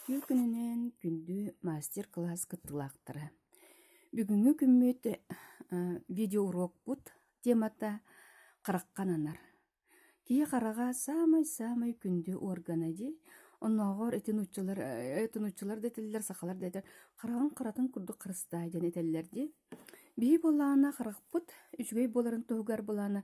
Түүр күнүнэн күндү мастер-кылаас кыттыылаахтара, бүгүҥҥү күммүт видеоуруокпут темата «Харахха ананар». Киһи хараҕа саамай-саамай күндү уоргана дии. Оннооҕор ити нууччалар, ити нууччалар да этэллэр, сахалар да этэллэр, хараҕын харатын курдук харыстаа диэн этэллэр дии. Биһиги былаана харахпыт үчүгэй буоларын туһугар былаана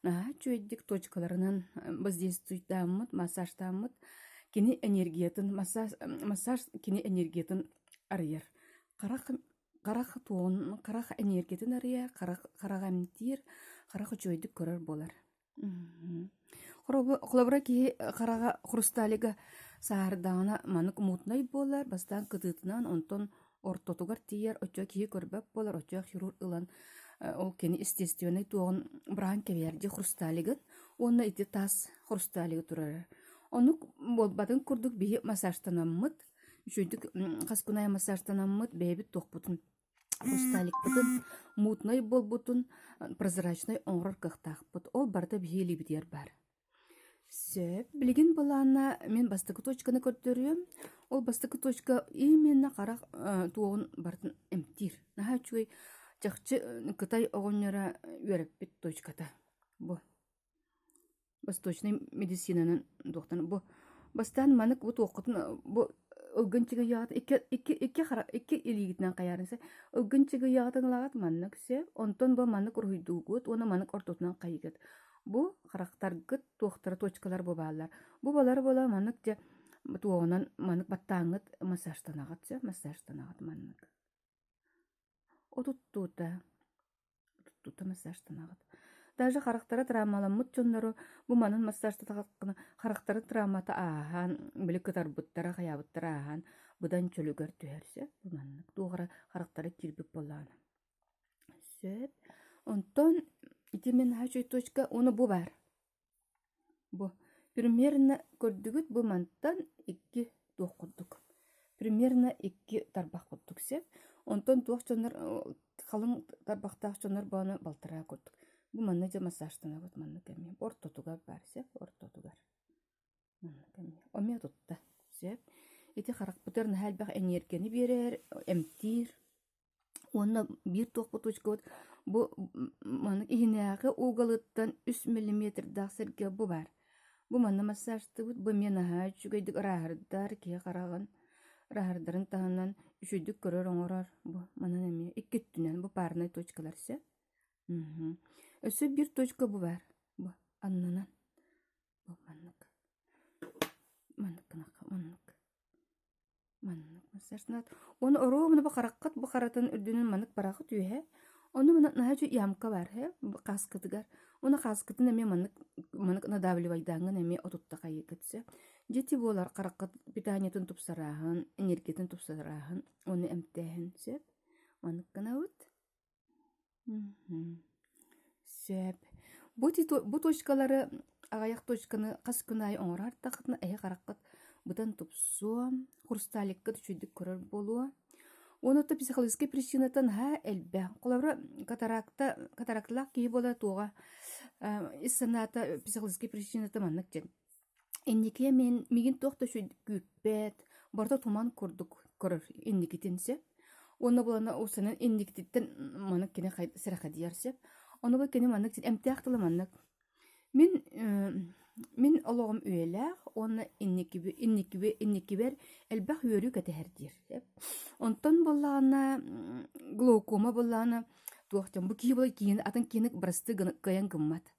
наһаа үчүгэйдик точкаларынан воздействуйдааммыт, массаждааммыт, кини энергиятын массаж массаж кини энергиятын арыйар. Харах харах туоһун харах энергиятын арыйар, харах хараҕы эмтиир, харах үчүгэйдик көрөр буолар. Холобура киһи хараҕа хрусталига сааһырдаҕына маннык мутнай буолар бастаан кытыытынан онтон ортотугар тиийэр оччо киһи көрбөт буолар оччо хирург ылан ол кини естественнай туоҕун быраһан кэбиһэр дии хрусталигын уонна ити таас хрусталига турар оннук буолбатын курдук биһи массажтанаммыт үчүгэйдик хас күн айан массажтанаммыт бэйэбит туохпутун Кусталикпытын мутнай буолбутун прозрачнай оҥорор кыахтаахпыт, ол барыта биһи илиибитигэр баар. Сөп, билигин былаана мин бастакы точканы көрдөрүөм, ол бастакы точка именно харах туоҕун барытын эмтиир. Наһаа үчүгэй чахчы Кытай оҕонньоро үөрэппит точката бу. восточнай медицинанан туохтан бу бастаан манык бу туоххутун бу ылгын чыгыйаҕыт икки икки икки хара икки илиигитинэн хайаарыса ылгын чыгыйаҕытын ылаҕыт маннык се онтон бу маннык уруһуйдуугут уонна маннык ортотунан хайыгыт бу харахтаргыт туохтара точкалар бу бааллар бу балар бола маннык дьэ туоҕунан маннык баттааҥҥыт массажтанаҕыт се массажтанаҕыт маннык отуттуута Туттуута массажтанаҕыт. Даже харахтара травмаламмыт дьоннору бу манан массажтатаххына харахтарын травмата ааһан, били кытарбыттара, хайаабыттара ааһан быдан чөлүгэр түһэр. Сөп бу маннык. Туох эрэ харахтара киирбит буоллаҕына. Сөп. Онтон ити мин наһаа үчүгэй точка. Уну бу баар. Бу примерно көрдүгүт бу мантан икки туох курдук примерно икки тарбах курдук сеп онтон туох дьоннор халыҥ тарбахтаах дьоннор бооно балтараа курдук бу манна дьэ массажтанабыт манна кэмиэ ортотугар баар сеп ортотугар манна кэмиэ эмиэ тутта сеп ити харахпытыгар наһаа элбэх эниэргэни биэрэр эмтиир Уонна биир туох куточкабыт бу маннык иһинээҕи уголуттан үс миллиметрдаах сэргэ бу баар. Бу манна массажтыбыт, бу эмиэ наһаа үчүгэйдик ыраһырдар, киһи хараҕын ыраһырдарын таһынан үчүгэйдик көрөр-оҥорор. Бу манан эмиэ икки өттүнэн бу парнай точкалар сөп. Өссө биир точка бу баар. Бу аннынан. Бу маннык. Маннык гынахха маннык. Манна концертнаат уонна оруобуна бу хараххыт бу харатын үрдүнэн маннык бараахы түөһэ, ону манна наһаа үчүгэй ямка баар ээ хааскытыгар. Уонна хааскытын эмиэ маннык маннык надавливайдааҥҥын эмиэ отуттахайы көтсө. Дьити буолар хараххыт питаниятын тупсарааһын, энергиятын тупсарааһын, уонна эмтээһин сөп. Маннык гынабыт. Сөп. Бу титу- бу точкалары аҕыйах точканы хас күн аайы оҥоро ардаххытына эһэ хараххыт бытан тупсуо, хрусталиккыт үчүгэйдик көрөр буолуо. Уонна оттон психологическай причинаттан наһаа элбэх. Холобура, катаракта, катаракталаах киһи буолара туоҕа ис санаата психологическай причината маннык диэн. Инникигэ мин мигин туох да үчү күүппэт, барыта туман курдук көрөр инникитин сөп. Уонна булана усанан инникититтэн маннык кини сэрэхэдийэр сөп. Ону бу кини маннык эмтээх тылы маннык. Мин мин олоҕум үйэлээх уонна инникиби инникиби инникибэр элбэх үөрүү кэтэһэр диир сөп. Онтон буоллаҕына глаукома буоллаҕына туох дьон бу киһи була киин атын киинник бырастыы гынан кыайан гыммат.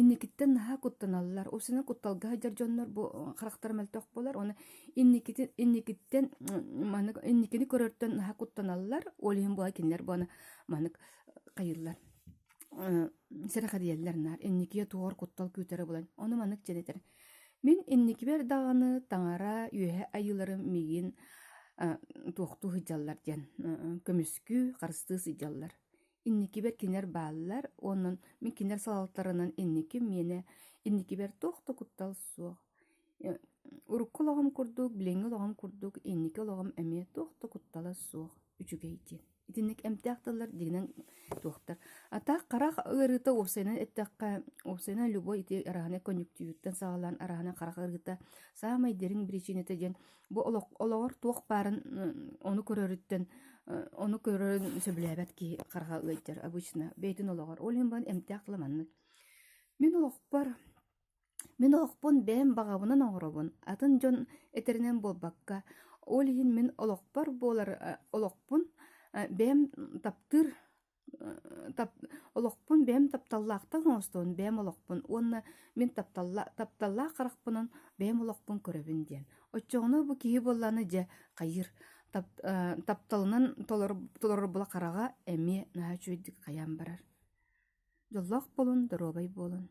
Инникиттэн наһаа куттаналлар. Усина кутталга сылдьар дьоннор бу харахтара мөлтөх буолар. Оны инникити инникиттэн маннык инникини көрөртөн наһаа куттаналлар. Ол иһин була кинилэр буона маннык хайыллар сирэхэдийэллэр наар инникиэ туор куттал күүтэрэ булан ону маннык дьэнэтэр мин инникибэр даҕаны таҥара үөһэ айыыларым миигин туохтуу сыдьаллар диэн көмүскүү харыстыы сыдьаллар инникибэр кинилэр бааллар уонун мин кинилэр салалтарынан инниким миэнэ инникибэр туох да куттал суох э, урукку олоҕум курдук билиҥҥи олоҕум курдук инники олоҕум эмиэ туох да куттала суох үчүгэй диэн итинник эмтээх тыллар дигинэн туохтар атаах харах ыарыыта уопсайынан эттэххэ уопсайынан любой ити араһана конъюктивиттан саҕалаан араһана харах ыарыыта саамай дириҥ причината диэн бу олох, олоҕор туох баарын ону көрөрүттэн ону көрөрүн сөбүлээбэт киһи харга ыйтар обычно бэйтин олоҕор ол иһин бан эмтээх тыла маннык мин олохпор мин олохпун бэйэм баҕабынан оҥоробун атын дьон этэринэн буолбакка ол иһин мин олохпор буолар олохпун бэйэм таптыыр олохпун бэйэм тапталлаахтык оҥостоон бэйэм олохпун уонна мин тапталла тапталлаах харахпынан бэйэм олохпун көрөбүн диэн оччоҕуна бу киһи буоллааны дьэ хайыыр тап, э, тапталынан толор толорор була хараҕа эмиэ наһаа үчүгэйдик хайаан барар дьоллоох буолун доруобай буолун